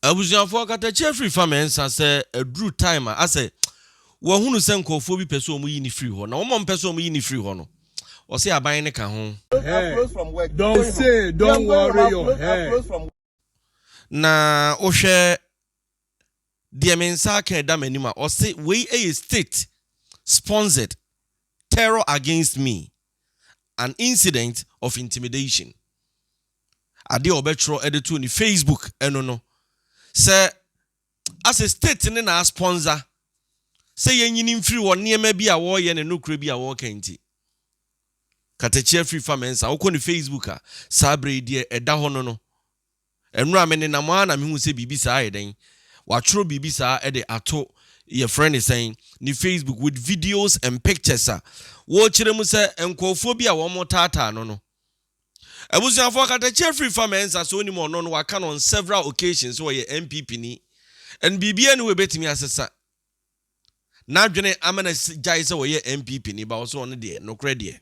Abusuafoɔ katakyie firi fa mmiɛnsa sɛ aduru time a asɛ wahunu sɛ nkurɔfoɔ bi pɛ sɛ wɔn yi ne firi hɔ na wɔn a wɔpɛ sɛ wɔn yi ne firi hɔ no ɔsɛ aban ne ka ho. Don't say don't worry your head. Na wohwɛ deɛ me nsa aka a ɛda m'anim a, ɔse wei yɛ state sponsored terror against me, an incident of intimidation. Adeɛ a ɔbɛtwerɛ de too ne Facebook ɛno no, sɛ Asɛ state ne na a sponsor sɛ yɛnyini mfiri wɔ nneɛma bi a wɔreyɛ ne nokorɛ bi a wɔreka nti. Katakyia firi fa Mensah, wokɔ ne Facebook a, saa berɛ yi deɛ ɛda hɔ no no. Ɛnora me nenam ara na me hu sɛ biribi saa ayɛ dɛn? Watwerɛ biribi saa de ato yɛfrɛ no sɛn? Ne Facebook with videos and pictures a wɔrekyerɛ mu sɛ nkorɔfoɔ bi a wɔretaataa no no. Abusuafoɔ katakyia firi fa mɛ nsa sɛ onim ɔno no waka no on several occasions sɛ ɔyɛ NPP ni and biribiara nni hɔ ɛbɛtumi asesa n'adwene ama no agyae sɛ ɔyɛ NPP ni but ɔsɛ ɔno deɛ nokorɛ deɛ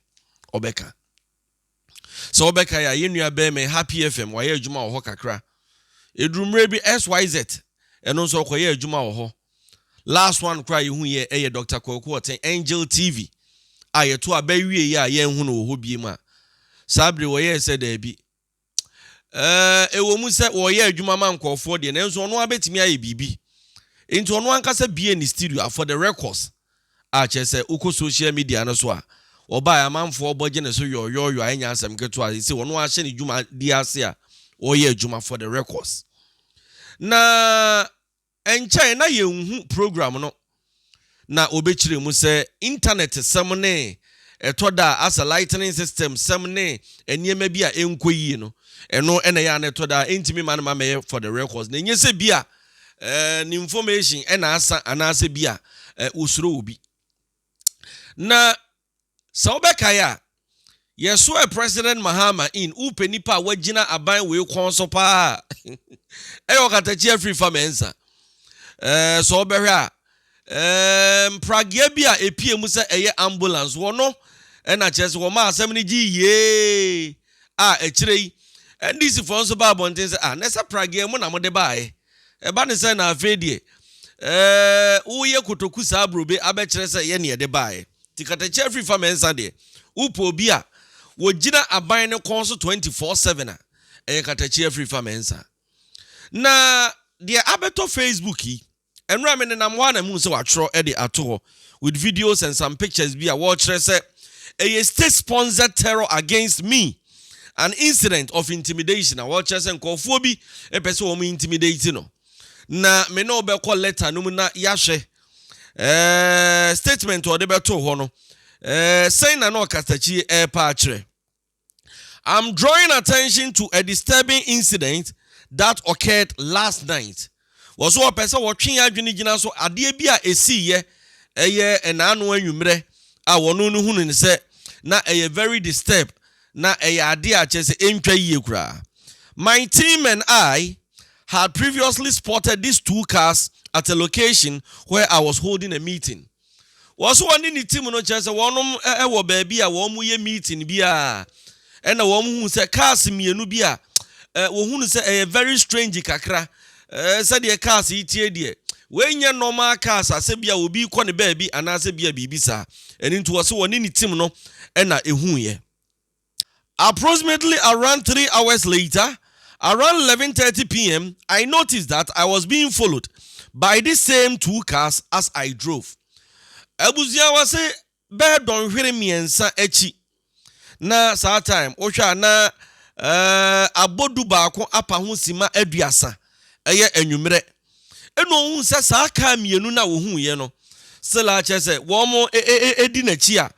ɔbɛka sɛ ɔbɛkae a yɛnnua bɛɛma ɛha PFM wayɛ adwuma wɔ hɔ kakra ɛduru mmerɛ bi SYZ ɛno nso ɔkɔyɛ adwuma wɔ hɔ Last one koraa a yehu yɛ yɛ Doctor Kwaku Ɔten, Angel TV, a yɛto aba wie yi a yɛnhu no wɔ hɔ biem a, saa bere wɔyɛɛ sɛ daabi. Ɛɛ, ɛwɔ mu sɛ wɔyɛ adwuma ma nkurɔfoɔ deɛ, nanso ɔno ara bɛtumi ayɛ biribi. Enti ɔno ankasa bie ne studio a for the records a kyerɛ sɛ wokɔ social media no so a, ɔbaeɛ amanfoɔ bɔ gye ne so yɔɔyɔɔyɔ a ɛnyɛ asɛm ketewa a ɛsɛ ɔno ahyɛ ne dwumadie ase a ɔreyɛ adwuma for the records. Na Ɛnkyɛe na yenhu program no. Ná wɔbɛkyerɛ mu sɛ Intanɛtsɛm ne ɛtɔ da a asɛ lightning system sɛm ne nneɛma bi a ɛnkɔ yie no, ɛno na ɛyɛ a na ɛtɔ da a ɛntumi mma no ma mmɛyɛ for the records, na ɛnyɛ sɛ bi a ne information na asa anaasɛ bi a wɔsuro obi. Ná Sɛ wobɛkae a, yɛsoɛɛ President Mahama in, wopɛ nnipa a wɔagyina aban wei kɔn so pa ara a, ɛyɛ ɔkatakyie afiri fa mɛnsa. Ɛɛ, sɛ wobɛhwɛ a, ɛɛ, mpragea bi a ɛpie mu sɛ ɛyɛ ambulance, wɔ no ɛna kyerɛ sɛ wɔmaa asɛm no gyee yiee a akyire yi, NDC foɔ nso baa abɔnten sɛ, ah, na ɛsɛ pragea mu na mode baaɛ. Ɛba ne sɛ na afei deɛ, ɛɛ, woyɛ kotoku saa brobe abɛkyerɛ sɛ ɛyɛ neɛ ɛde baaɛ. Nti katakyia firi fa mɛnsa deɛ wopɛ obi a wɔgyina aban no kɔn so twenty four seven a ɛyɛ katakyia firi fa mɛnsa na deɛ abɛtɔ facebook yi ɛnora me nenam hɔ a na muu sɛ watwerɛ de ato hɔ with videos and some pictures bi a wɔkyerɛ sɛ ɛyɛ state sponsored terror against me an incident of intimidation a wɔkyerɛ sɛ nkurɔfoɔ bi ɛpɛ sɛ wɔn intimidate no na me ne wobɛkɔ letter no mu na yɛahwɛ ɛɛ statement a ɔde bɛtoo hɔ no ɛɛ sɛn na na ɔkasakyi ɛɛpa akyerɛ i'm drawing attention to a disturbing incident that occurred last night wɔ so ɔpɛ sɛ wɔtwe adwene gyina so adeɛ bi a ɛsiiɛ ɛyɛ ɛnaano anwummerɛ a wɔn no hunu ne sɛ na ɛyɛ very disturbed na ɛyɛ ade a kyerɛ sɛ entwa yiye koraa. My team and I had previously spotted these two cars at a location where I was holding a meeting. Wɔso wɔne ne team no kyerɛ sɛ wɔnom wɔ baabi a wɔn yɛ meeting bi a ɛna wɔn huu sɛ cars mmienu bi a wɔhunu sɛ ɛyɛ very strange kakra Ɛɛ, sɛdeɛ cars yi teɛ deɛ, wei nyɛ normal cars a sɛ bia obi rekɔ ne baabi anaasɛ bia biribi saa. Ɛno nti wɔse wɔne ne team no na ɛhuiɛ. Approximately around three hours later, around 11:30 pm, I noticed that I was being followed by this same two cars as I drove. Abusuawa se Bɛyɛ dɔnhwere mmiɛnsa akyi na saa time wo hwɛ a na eh, abɔ du baako apa ho sima aduasa ɛyɛ anwummerɛ. Ɛna ohun sɛ saa kaa mmienu na ohun yɛ no still a kyerɛ sɛ wɔn mo e, e, e, edi n'akyi a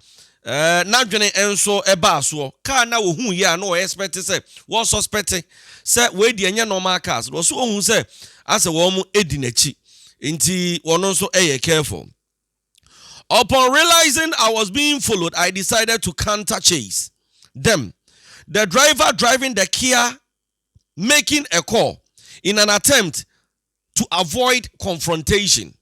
eh, n'adwene nso ɛbaa soɔ. Kaa na ohun yɛ a na ɔyɛ spɛte sɛ wɔn sɔspɛte sɛ wɔn edi ɛnyɛ normal cars no ɔso ohun sɛ asɛ wɔn mo edi n'akyi nti wɔn nso ɛyɛ careful. Upon realizing I was being followed, I decided to counter-chase them, the driver driving the Kia making a call in an attempt to avoid confrontation.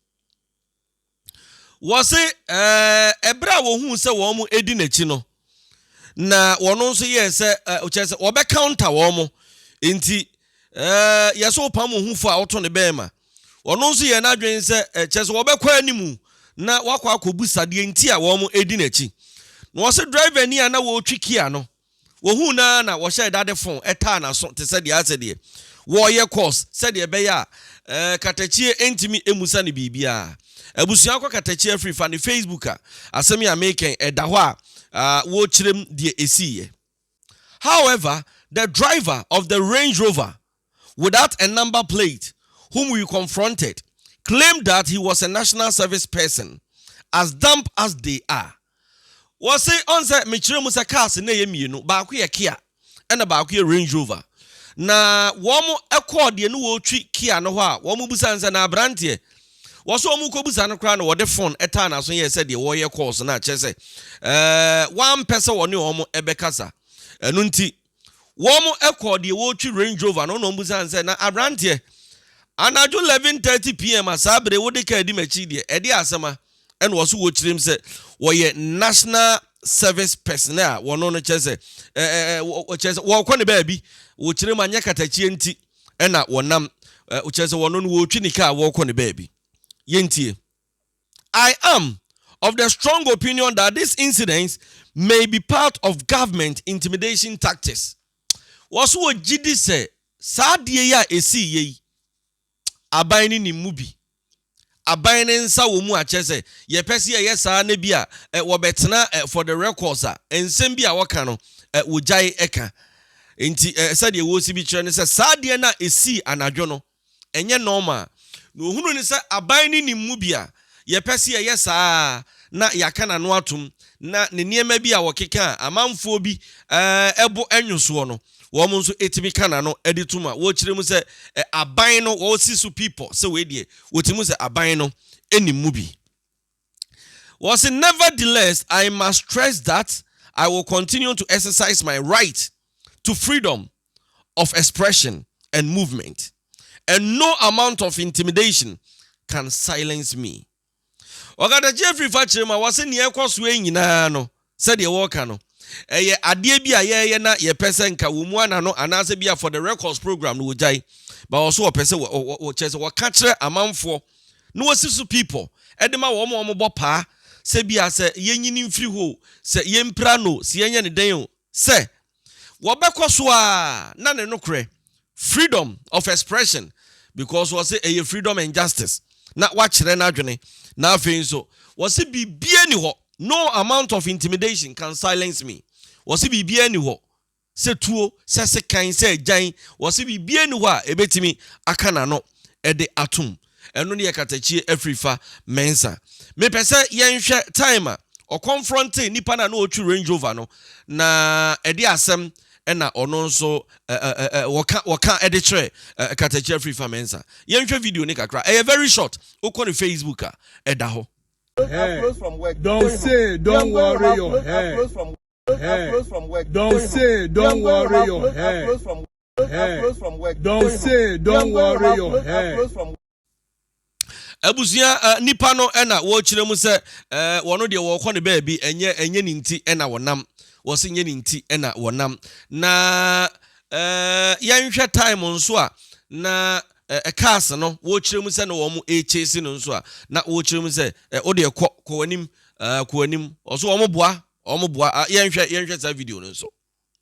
Wɔse ɛɛ ɛberɛ a wɔhuu sɛ wɔn edi n'akyi no, na wɔn nso yɛɛ sɛ kyerɛ sɛ wɔbɛ counter wɔn mo nti ɛɛ yɛsɛ ɔpam ohufo a ɔto ne bɛn ma wɔn nso yɛ n'adwene sɛ kyerɛ sɛ wɔbɛkɔ anim na wakɔ akɔbu sadeɛ nti a wɔn edi n'akyi na wɔsɛ driver ni a na wɔretwi kia no wɔhu na na wɔhyɛ dade fon ɛtaa n'aso te sɛ deɛ asɛ deɛ wɔyɛ course sɛdeɛ ɛbɛyɛ a ɛɛ katakyie ntumi emusa ne biribiara. Abusua kɔ katakyi afiri fa ne Facebook a asɛm yi a meekɛn ɛda hɔ a wɔkyerɛm deɛ ɛsiiyɛ. However, the driver of the Range Rover without a number plate whom we confronted claimed that he was a national service person as dumb as they are. Wɔse ɔn sɛ mekyerɛ mu sɛ cars na ɛyɛ mmienu baako yɛ Kia ɛna baako yɛ Range Rover na wɔn kɔɔ deɛ ne wɔretwi Kia no hɔ a wɔn busa no sɛ na abranteɛ wɔso wɔn kɔ busa no koraa na wɔde phone ɛtaa n'aso yɛ sɛ deɛ wɔreyɛ calls na kyerɛ sɛ ɛɛ wampɛ sɛ wɔne wɔn ɛbɛkasa ɛno nti wɔkɔɔ deɛ ɔretwi Range Rover no na ɔbisaa no sɛ, Na aberanteɛ, anadwo 11:30pm a saa bere wode kaa di m'akyi deɛ, ɛdeɛn asɛm a? Ɛna ɔse wɔkyerɛm sɛ wɔyɛ National Service Personnel a wɔno no kyerɛ sɛ kyerɛ sɛ wɔrekɔ ne baabi, wɔkyerɛm anyɛ katakyie nti ɛna wɔnam, kyerɛ sɛ wɔno no wɔretwi ne kaa wɔrekɔ ne baabi. Yɛntie. I am of the strong opinion that this incident may be part of government intimidation tactics. Wɔso wɔ gyidi sɛ saa adeɛ yi a ɛsii yɛ yi, aban no nim mu bi. Aban no nsa wɔ mu akyɛ sɛ yɛpɛ sɛ yɛyɛ saa na bi a eh, wɔbɛtena eh, for the records a nsɛm bi a wɔka no eh, wɔgyae ɛka. Nti eh, sɛdeɛ wɔsi bi kyerɛ no sɛ saa adeɛ no a ɛsii anadwo no, ɛnyɛ nɔɔma a, na ohunu no sɛ aban no nim mu bi a yɛpɛ sɛ yɛyɛ saa ara na yɛaka n'ano atom, na ne nneɛma bi a wɔkeka a amanfoɔ bi bo nnwo soɔ no, wɔn nso tumi ka n'ano de to mu a wɔkyerɛ mu sɛ aban no, wɔsi so pi pɔ sɛ wei deɛ wɔtumi hu sɛ aban no nim mu bi. Wɔse, Nevertheless, I must stress that I will continue to exercise my right to freedom of expression and movement and no amount of intimidation can silence me. Ɔkatakyie firi fakyere mu a wɔse nea ɛkɔ soɔ yi nyinaa no, Sɛdeɛ wɔka no, ɛyɛ adeɛ bi a yɛyɛ na yɛpɛ sɛ nka wɔmu ana no anaasɛ bia for the records program no wɔgyae but ɔso wɔpɛ sɛ wɔ wɔ wɔ kyerɛ sɛ wɔka kyerɛ amanfoɔ na wɔsi so people ɛde ma wɔn a wɔn bɔ paa sɛ bia sɛ yɛnyini mfiri hɔ o sɛ yɛmpira no o sɛ yɛnyɛ ne dɛn o sɛ wɔbɛkɔ so ara na ne nokorɛ freedom of expression because wɔse ɛyɛ freedom and justice na wakyerɛ n'adwene na afei nso wɔse biribiara ni hɔ no amount of intimidation can silence me wɔse biribiara ni hɔ sɛ tuo sɛ sekan sɛ agyan wɔse biribiara ni hɔ a ɛbɛtumi aka n'ano ɛde atom Ɛno ne yɛ katakyie afiri fa Mensa. Me pɛ sɛ yɛ nhwɛ time a ɔconfronte nipa no a na ɔtwi Range Rover no na ɛde asɛm ɛna ɔno nso ɛ ɛ ɛ wɔka wɔka ɛde kyerɛ ɛ katakyie afiri fa Mensa. Yɛ nhwɛ video no kakra ɛyɛ very short wokɔ ne Facebook a ɛda hɔ. Don't say don't worry your head. Don't say don't worry your head. hair. Don't say, don't worry your hair. abusua eh, nipa no eh, na wɔkyerɛ mu sɛ eh, wɔn deɛ wɔkɔ ne baabi ɛnyɛ ɛnyɛ ne nti na wɔnam wɔsi nyɛ ne nti na wɔnam na yɛnhwɛ time nso a na cars no wɔkyerɛ mu sɛ na wɔn ɛkyɛsi no nso a na wɔkyerɛ mu sɛ wodeɛ kɔ kɔ w'anim kɔ w'anim ɔso wɔn boa wɔn boa yɛnhwɛ yɛnhwɛ saa video no nso.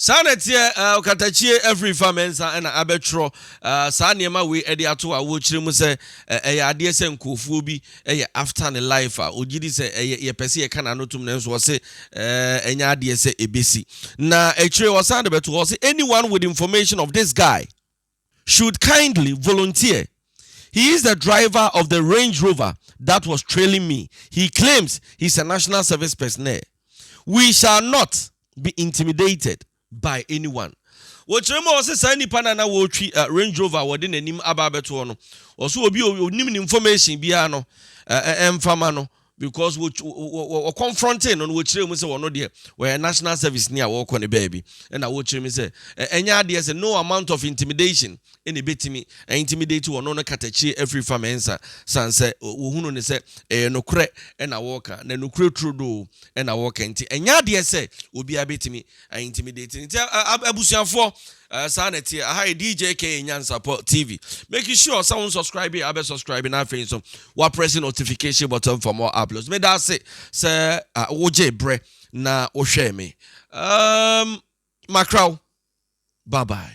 Saa na ɛteɛ, eh, ɔkatakyie afiri fa me nsa na abɛtwerɔ eh, saa nneɛma wei ɛde ato awoɔ kyerɛ mu sɛ eh, ɛyɛ adeɛ sɛ nkurɔfoɔ bi ɛyɛ after ne life a ɔgye di sɛ ɛyɛ yɛpɛ sɛ yɛka n'ano tom nanso ɔse eh, ɛnyɛ adeɛ sɛ ɛbɛsi na akyire ɔsan de bɛto hɔ ɔse anyone with information of this guy should kindly volunteer, he is the driver of the Range Rover that was trailing me, he claims he is a National Service personnel, we shall not be intimidated by anyone. Wɔkyerɛ mu a wɔse saa nipa no a na wɔretwi Range Rover a wɔde n'anim aba abɛtoɔ no, wɔse obi a onim ne information biara no ɛmfa ma no, because wɔ wɔ wɔ confronting no no wɔkyerɛ mu sɛ wɔn deɛ wɔyɛ national service ni a wɔrekɔ ne baabi ɛna wɔkyerɛ mu sɛ ɛnyɛ adeɛ sɛ no amount of intimidation ɛna ebɛtumi intimidate wɔn no katakyie afiri fa mɛnsa san sɛ wɔhunu ne sɛ ɛyɛ nokorɛ ɛna wɔreka na nokorɛ turodoo ɛna wɔreka nti ɛnyɛ adeɛ sɛ obiara bɛtumi I intimidating nti abusuafoɔ eh, saa na ɛteɛ aha yɛ dj ka nyansapɔ tv make sure sɛ wo subscribe abɛ subscribe na afei nso waprɛse notification button for more uploads meda ase sɛ ah, wogye berɛ na wohwɛɛ me um, makraw bye bye